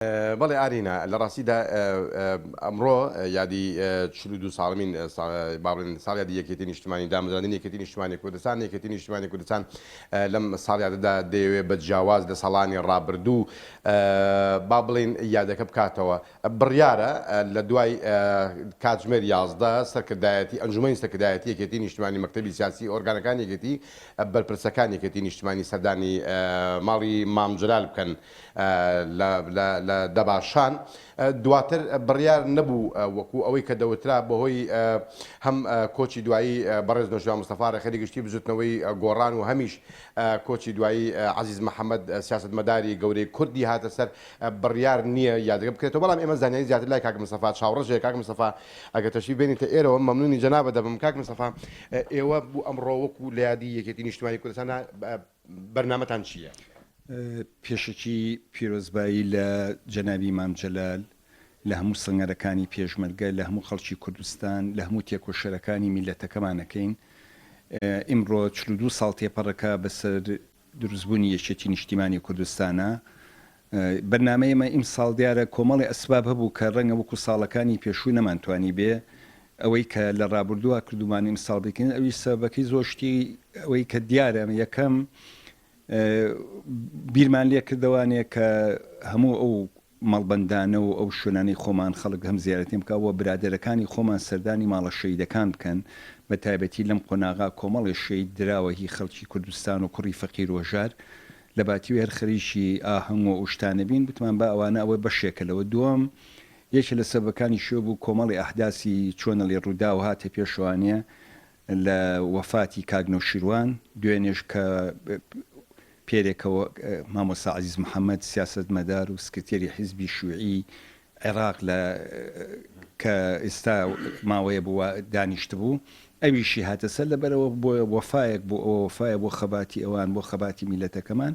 بەڵێ ئارینا، لە ڕاستیدا ئەمڕۆ یادی چل و دوو ساڵەمین با بڵێن ساڵیادی یەکێتی نیشتمانی دامەزراندنی یەکێتی نیشتمانی کوردستان، یەکێتی نیشتمانی کوردستان لەم ساڵیادەدا دەیەوێت بە جیاواز لە ساڵانی ڕابردوو با بڵێین یادەکە بکاتەوە. بڕیارە لە دوای کاتژمێر یازدە سەرکردایەتی ئەنجوومەنی سەرکردایەتی یەکێتی نیشتمانی، مەکتەبی سیاسی، ئۆرگانەکانی یەکێتی، بەرپرسەکانی یەکێتی نیشتمانی سەردانی ماڵی مام جەلال بکەن. لە دەباشان دواتر بڕیار نەبوو وەکو ئەوەی کە دەوترا بەهۆی هەم کۆچی دوایی بەڕێز نەوشیروان مستەفا ڕێکخەری گشتی بزوتنەوەی گۆڕان و هەمیش کۆچی دوایی عەزیز محەمەد سیاسەتمەداری گەورەی کوردی هاتە سەر بڕیار نیە یادگە بکرێتەوە بەڵام ئێمە زانیاری زیاتر لای کاک مستەفا چاوڕەش هەیە کاک مستەفا ئەگەر تەشریف بێنیتە ئێرەوە مەمنونی جەنابت دەبم کاک مستەفا ئێوە بو ئەمڕۆ وەکو لە یادی یەکێتی نیشتمانی کوردستانا بەرنامەتان چییە؟ پێشەکی پیرۆزبایی لە جەنابی مام جەلال، لە هەموو سەنگەرەکانی پێشمەرگە، لە هەموو خەڵکی کوردستان، لە هەموو تێکۆشەرەکانی میللەتەکەمان ئەکەین. ئیمڕۆ چل و دوو ساڵ تێپەڕەکە بەسەر دروستبوونی یەکێتی نیشتیمانی کوردستانا. بەرنامەی ئێمە ئیمساڵ دیارە کۆمەڵێ ئەسباب هەبوو کە ڕەنگە وەکو ساڵەکانی پێشوو نەمانتوانیبێ ئەوەی کە لە ڕابوردووە کردومان ئیمساڵ بیکەین ئەویش سەبەبەکەی زۆر شتی ئەوەی کە دیارە یەکەم بیرمان لێ کردەوانێ کە هەموو ئەو مەڵبەندانە و ئەو شوێنانی خۆمان خەڵک هەم زیارەتیم بکەوە برادەرەکانی خۆمان سەردانی ماڵە شەیدەکان بکەن بە تایبەتی لەم قۆناغا کۆمەڵێ شەید دراوە هی خەڵکی کوردستان و کوڕی فەقیر وەژار لەباتیوێر خەریکی ئاهەنگ و ئەوشتانەبین گوتمان با ئەوانە ئەوە بەشێکە لەوە دووەم یەکێ لە سەبەکانی شوێ بوو کۆمەڵی ئەحداسی چۆنەڵی ڕووداو هاتە پێشوانێ لە وەفاتی کاک نەوشیروان دوێنێش کە پێرێکەوە مامۆستا عەزیز محمد سیاسەتمەدار و سکرتێری حیزبی شویعی عێراق لە کە ئیستا ماوەیە بوو وا دانیشتبوو ئەویشی هاتە سەر لەبەرئەوە بۆیە وەفایەک بۆ ئەوە وەفایە بۆ خەباتی ئەوان بۆ خەباتی میلەتەکەمان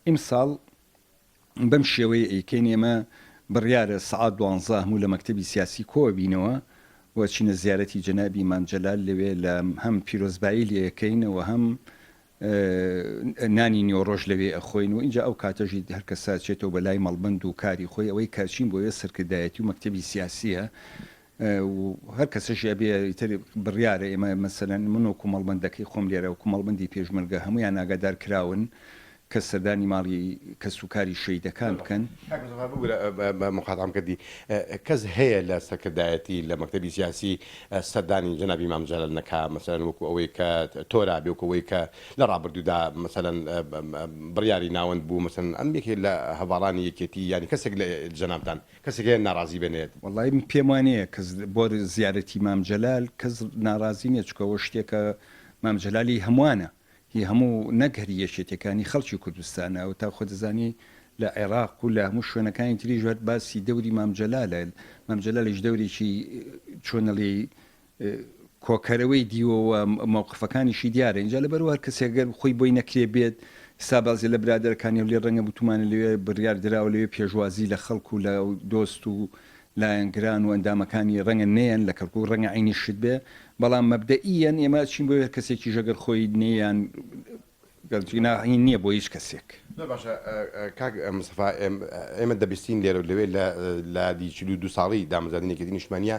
ئیمساڵ بەم شێوەیە ئەیکەین ئێمە بڕیارە سەعات دوانزە هەموو لە مەکتەبی سیاسی کۆ بینەوە و چینە زیارەتی جەنابی مام جەلال لەوێ لە هەم پیرۆزبایی لێ ئەکەین و هەم نانی نیوەڕۆش لەوێ ئەخۆین و ئینجا ئەو کاتەشی هەر کەس ئەچێتەوە بە لای مەڵبەند و کاری خۆی، ئەوەی کە ئەچین بۆیە سەرکردایەتی و مەکتەبی سیاسییە و هەر کەسەشی ئەبێ ئیتر بڕیارە، ئێمە مەسەلەن من وەکوو مەڵبەندەکەی خۆم لێرە وەکوو مەڵبەندی پێشمەرگە هەموویان ئاگادار کراون کە سەردانی ماڵی کەس و کاری شەهیدەکان بکەن. کاک مستەفا ببورە مقاتعەم کردی، کەس هەیە لە سەرکردایەتی لە مەکتەبی سیاسی سەردانی جەنابی مام جەلال نەکا مەسەلەن وەکو ئەوەی کە تۆرا بێ وەکو ئەوەی کە لە ڕابردوودا مەسەلەن بڕیاری ناوەند بوو مەسەلەن ئەم یەکێ لە هەڤاڵانی یەکێتی یانی کەسێک لە جەنابتان کەسێک هەیە ناڕازی بێ نێت؟ وەڵایی من پێم وا نیە کەس بۆ زیارەتی مام جەلال کەس ناڕازی نیە چونکە ئەوە شتێکە مام جەلالی هەموانە هی هەموو نەک هەر یەکێتیەکان هی خەڵکی کوردستانە و تا خۆدەزانی لە عێراق و لە هەموو شوێنەکانی تری ژات باسی دەوری مامجلالە مامجلالش دەورێکی چۆنەڵی کۆکەرەوەی دیوەوە مەوقفەکانیشی دیارە اینجا لە بەرو هەر کەسێگەر خۆی بۆی نەکرێ بێت سابازی لە برادەرەکانی و لێ ڕەنگە بتومانە لەوێ بڕیار دراوە لەوێ پێشوازی لە خەڵکو لە دۆست و لایەنگران و ئەندامەکانی ڕەنگە نەیەن لە کەرکوک ڕەنگە عەینی شت بێ بەڵام مەبدەئیەن ئێمە ئەچین بۆ هەر کەسێکیش ئەگەر خۆی نەیان گەل جینا هین نییە بۆ هیچ کەسێک. زۆر باشە کاک مستەفا ئێمە دەبیستین لێرە و لەوێ لە لادی چل و دوو ساڵی دامەزراندنی یەکێتی نیشتمانییە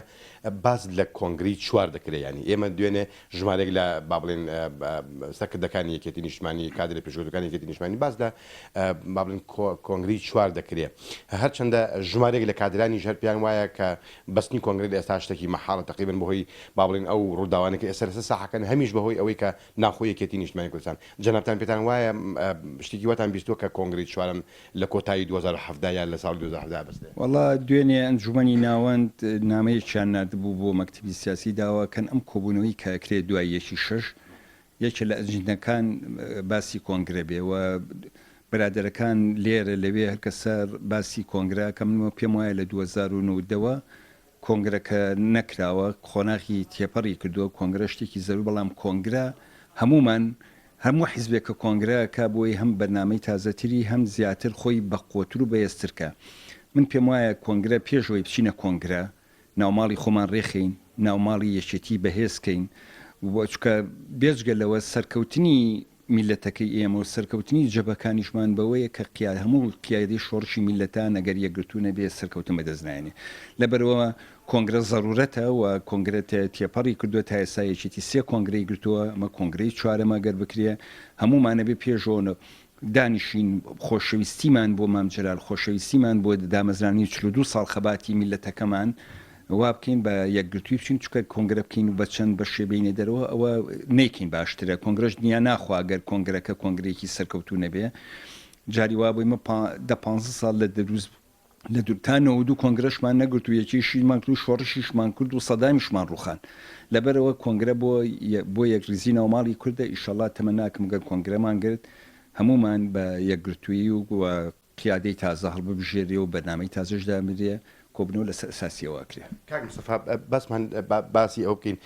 باس لە کۆنگرەی چوار دەکرێ یانی ئێمە دوێنێ ژمارێک لە با بڵێن سەرکردەکانی یەکێتی نیشتمانی کادرە پێشکەوتوەکانی یەکێتی نیشتمانی باس لە با بڵێن کۆنگرەی چوار دەکرێ هەرچەندە ژمارێک لە کادرانیش هەر پێیان وایە کە بەستنی کۆنگرە لە ئێستا شتەکی مەحاڵە تەقریبەن بەهۆی با بڵێن ئەو ڕووداوانە کە ئێستا لەسەر ساحەکەن هەمیش بەهۆی ئەوەی کە ناخۆ یەکێتی نیشتمانی کوردستان جەنابتان پێتان وایە شتێکی واتان بیستووە کە کۆنگرەی چوارەم لە کۆتایی دوو هەزار و حەڤدە یان لە ساڵی دوو هەزار و حەڤدە بەستێ. وەڵا دوێنێ ئەنجومەنی ناوەند نامەیەکیان ناردبوو بۆ مەکتەبی سیاسی داوا کەن ئەم کۆبونەوەی کە ئەکرێ دوای یەکی شەش یەکێ لە ئەجندەکان باسی کۆنگرە بێ و برادەرەکان لێرە لەوێ هەرکەسە باسی کۆنگرە ئەکەن من پێم وایە لە دوو هەزار و نۆدە وە کۆنگرە کە نەکراوە قۆناغی تێپەڕی کردووە، کۆنگرە شتێکی زەروری بەڵام کۆنگرە هەموومان هەموو حیزبێک کە کۆنگرە ئەکا بۆی هەم بەرنامەی تازەتری هەم زیاتر خۆی بەقوەتر و بەهێزتر کا من پێم وایە کۆنگرە پێش ئەوەی بچینە کۆنگرە ناوماڵی خۆمان ڕێخەین ناوماڵی یەکێتی بەهێز کەین و چونکە بێجگە لەوە سەرکەوتنی میللەتەکەی ئێمە و سەرکەوتنی جەبەکانیشمان بەوەیە کە قیا هەموو قیادەی شۆڕشی میللەتان ئەگەر یەکگرتوو نەبێت سەرکەوتن بەدەست نایەنێ لەبەرئەوە کۆنگرە زەرورەتە و کۆنگرە تێ تێپەڕی کردووە تا ئێستا یەکێتی سێ کۆنگرەی گرتووە ئەمە کۆنگرەی چوارەمە گەر بکرێ هەموومان ئەبێ پێشەوە دانیشین خۆشەویستیمان بۆ مام جەلال خۆشەویستیمان بۆ دامەزرانی چل و دوو ساڵ خەباتی میللەتەکەمان وا بکەین بە یەکگرتووی بچین چونکە کۆنگرە بکەین و بە چەند بەشێ بێینە دەرەوە ئەوە نەیکەین باشترە کۆنگرەش دنیا ناخوا گەر کۆنگرەکە کۆنگرەیەکی سەرکەوتوو نەبێ جاری وا بووی من دە پ ساڵ لە دەروست لە دوور تا نەوە دوو کۆنگرەشمان نەگرت و یەکێشیمان کرد و شۆڕشیشمان کرد و سەدامیشمان ڕوخان لەبەرەوە کۆنگرە بۆ بۆ یەک ریزی ناوماڵی کوردە ئیشەڵا تەمە ناکەم گەر کۆنگرەمان گرت هەمومان بە یەکگرتووی و قیادەی تازە هەڵببژێرێ و بەرنامەی تازەش دابنرێ، کۆبوونەوە لەسەر ئەساسی ئەوە ئەکرێ. کاک مستەفا بەسمان با باسی ئەوە بکەین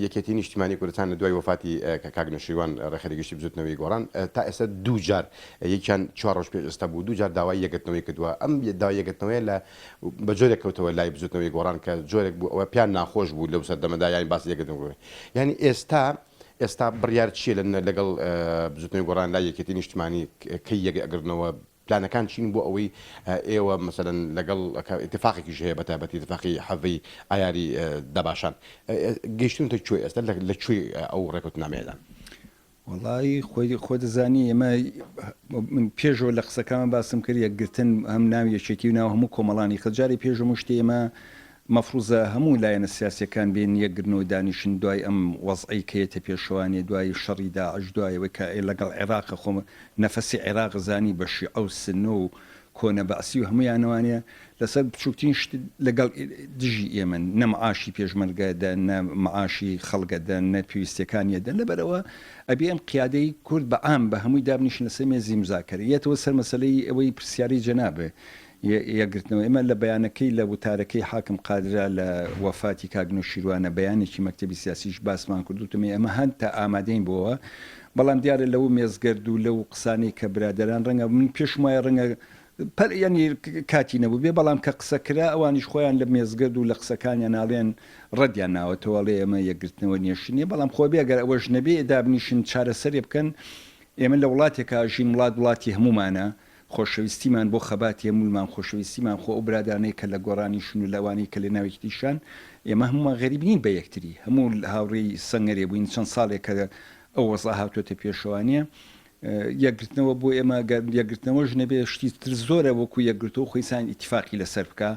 یەکێتی نیشتیمانی کوردستان لە دوای وەفاتی کاک نەوشیروان ڕێکخەری گشتی بزوتنەوەی گۆڕان تا ئێستا دوو جار یەکیان چوار ڕۆژ پێش ئێستا بوو دوو جار داوای یەکگرتنەوەی کردوە ئەم داوای یەکگرتنەوەیە لە بە جۆرێک کەوتەوە لای بزوتنەوەی گۆڕان کە جۆرێک بوو ئەوە پیان ناخۆش بوو لەو سەردەمەدا یانی باسی یەکگرتن یانی ئێستا ئێستا بڕیار چیە لە لەگەڵ بزوتنەوەی گۆڕان لای یەکێتی نیشتمانی کەی یەک ئەگرنەوە؟ پلانەکان چین بۆ ئەوەی ئێوە مەسەلەن لەگەڵ کە ئیتفاقێکیش هەیە بە تایبەتی ئیتفاقی حەڤەی ئایاری دەباشان گەیشتونتە کوێ ئێستا لە کوێی ئەو ڕێکەوتنامەیەدان؟ وەڵایی خۆی خۆ دەزانی ئێمە من پێشەوە لە قسەکانم باسم کرد یەکگرتن هەم ناو یەکێتی و ناو هەموو کۆمەڵانی خەجاری پێشمشتی ئێمە مەفروزە هەموو لایەنە سیاسیەکان بێن یەک گرنەوە دانیشن دوای ئەم وەزعەی کە یەتە پێشەوانێ دوای شەڕی داعش دوای ئەوەی کە لەگەڵ عێراقە خۆ نەفەسی عێراق زانی بە شیعە و سنە و کۆنە بەعسی و هەموویانەوانێ لەسەر بچوکترین شت لەگەڵ دژی ئێمەن نە معاشی پێشمەرگە دەن نە معاشی خەڵگە دەن نە پێویستیەکانیە دەن لەبەر ئەوە ئەبێ ئەم قیادەی کورد بە عام بە هەمووی دابنیشن لەسەر مێزی مزاکەرە یەتەوە سەر مەسەلەی ئەوەی پرسیارەی جەنابێ یەکگرتنەوە ئێمە لە بەیانەکەی لە وتارەکەی حاکم قادرا لە وەفاتی کاک نەوشیروانە بەیانێکی مەکتەبی سیاسیش باسمان کرد وتمی ئێمە هەنتا ئامادەین بۆوە بەڵام دیارە لە و مێزگەرد و لە و قسانەی کە برادەران ڕەنگە من پێشم وایە ڕەنگە پەر یعنی کاتی نەبوو بێ بەڵام کە قسە کرا ئەوانیش خۆیان لە مێزگەرد و لە قسەکانیان ناڵێن ڕەدیان ناوەتەوە ئەڵێ ئێمە یەکگرتنەوە نێشتنیە بەڵام خۆ بێگەر ئەوەش نەبێ دابنیشن چارەسەرێ بکەن ئێمە لە وڵاتێکا ژین وڵات وڵاتی هەمومانە خۆشەویستیمان بۆ خەباتی هەموویمان، خۆشەویستیمان خۆ ئەو برادانەی کە لە گۆڕانیشن و لە ئەوانەی کە لە ناو یەکتریشان، ئێمە هەموومان غەریب نین بە یەکتری، هەموو هاوڕێی سەنگەرێ بووین، چەند ساڵێکە ئەو وەزعە هاتووەتە پێشەوە، نییە؟ یەکگرتنەوە بۆ ئێمە، گەر یەکگرتنەوەش نەبێ شتی تر زۆرە وەکوو یەکگرتوو، خۆی سان ئیتیفاقی لەسەر بکا.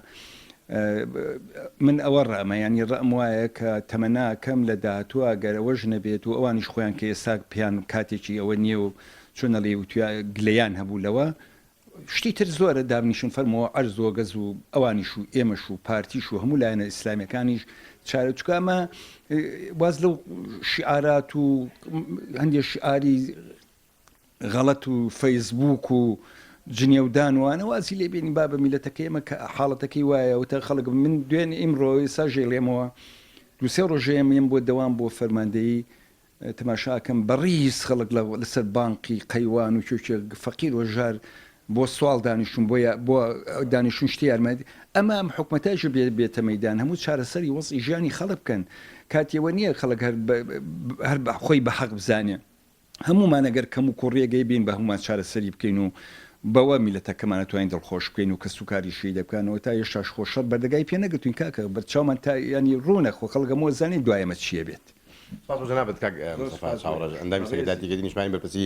من ئەوە ڕامە، یانی ڕام وایە کە تەمەناکەم لە داهاتووە گەر ئەوەش نەبێت و ئەوانیش خۆیان کە ئێستا پێیان کاتێکی ئەوە نییە و چۆن ئەڵێی وتویا گلەیان هەبوو لەوە شتی تر زۆرە دابنیشن فەرمۆوە عەرز وەگەز و ئەوانیش و ئێمەش و پارتیش و هەموو لایەنە ئیسلامیەکانیش چارە چکە ئەمە واز لەو شعارات و هەندێک شعاری غەڵەت و فەیسبوک و جنێودان وانە وازی لێ بێنی با بە میلەتەکەی ئەمە کە حاڵەتەکەی وایە وتە خەڵک من دوێن ئیمڕۆ ئێستا ژێڵێمەوە دوسێ ڕۆژێمیم بۆ دەوام بۆ فەرماندەیی تماشا ئەکەم بەڕیز خەڵک لە لەسەر بانقی قەیوان و کێوکێ فەقیر و هەژار بۆ سواڵ دانیشتون بۆ یا بۆ دانیشتون شتی یارمەتی ئەمە ئەم حکومەتایش بێ بێتە مەیدان هەموو چارەسەری وەزعی ژیانی خەڵک بکەن کاتی ئەوە نییە خەڵک هەر هەر بە خۆی بە حەق بزانێ هەمومان ئەگەر کەم و کوڕیەگەی بین بە هەمومان چارەسەری بکەین و بەوە میلەتەکەمانە توانین دڵخۆش بکەین و کەس و کاری شی دەکەنەوە تا یەشتاش خۆشەڵ بەردەگای پێ نەگرتوین کاکە بەرچاومان تا ینی ڕوونە خۆ خەڵگەمەوە زانین دوایەمە چیە بێت سپاس بۆ جەنابت کاک مستەفا چاوڕەش ئەندامی سەکرتاتی گەلی نیشتمانی بەرپرسی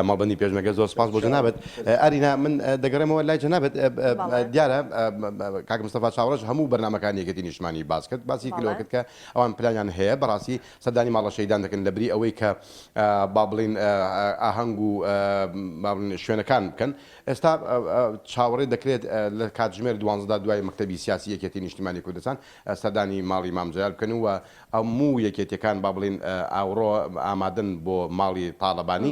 مەڵبەندی پێشمەرگە زۆر سپاس بۆ جەنابت ئارینا من دەگەڕێمەوە لای جەنابت دیارە کاک مستەفا چاوڕەش هەموو بەرنمەکانی یەکێتی نیشتمانی باس کرد باسی کلەوە کرد کە ئەوان پلانیان هەیە بەڕاستی سەردانی ماڵە شەیدان دەکەن لە بری ئەوەی کە با بڵین ئاهەنگ و شوێنەکان بکەن ئێستا چاوەڕێ دەکرێت لە کاتژمێر دوانزدا دوای مەکتەبی سیاسی یەکێتی نیشتمانی کوردستان سەردانی ماڵی مام جەلال بکەن و هەموو یەکێتیەکان با بڵێین ئاوڕۆ ئامادەن بۆ ماڵی تاڵەبانی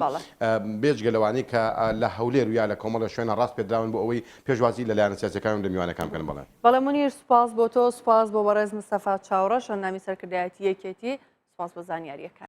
بێجگە لەوانەی کە لە هەولێر و یا لە کۆمەڵە شوێنە ڕاست پێدراون بۆ ئەوەی پێشوازی لە لایەنە سیاسیەکان و لە میوانەکان بکەن بەڵێ. بەڵێ مونیر سوپاس بۆ تۆ سوپاس بۆ بەڕێز مستەفا چاوڕەش ئەندامی سەرکردایەتی یەکێتی سوپاس بۆ زانیاریەکانت.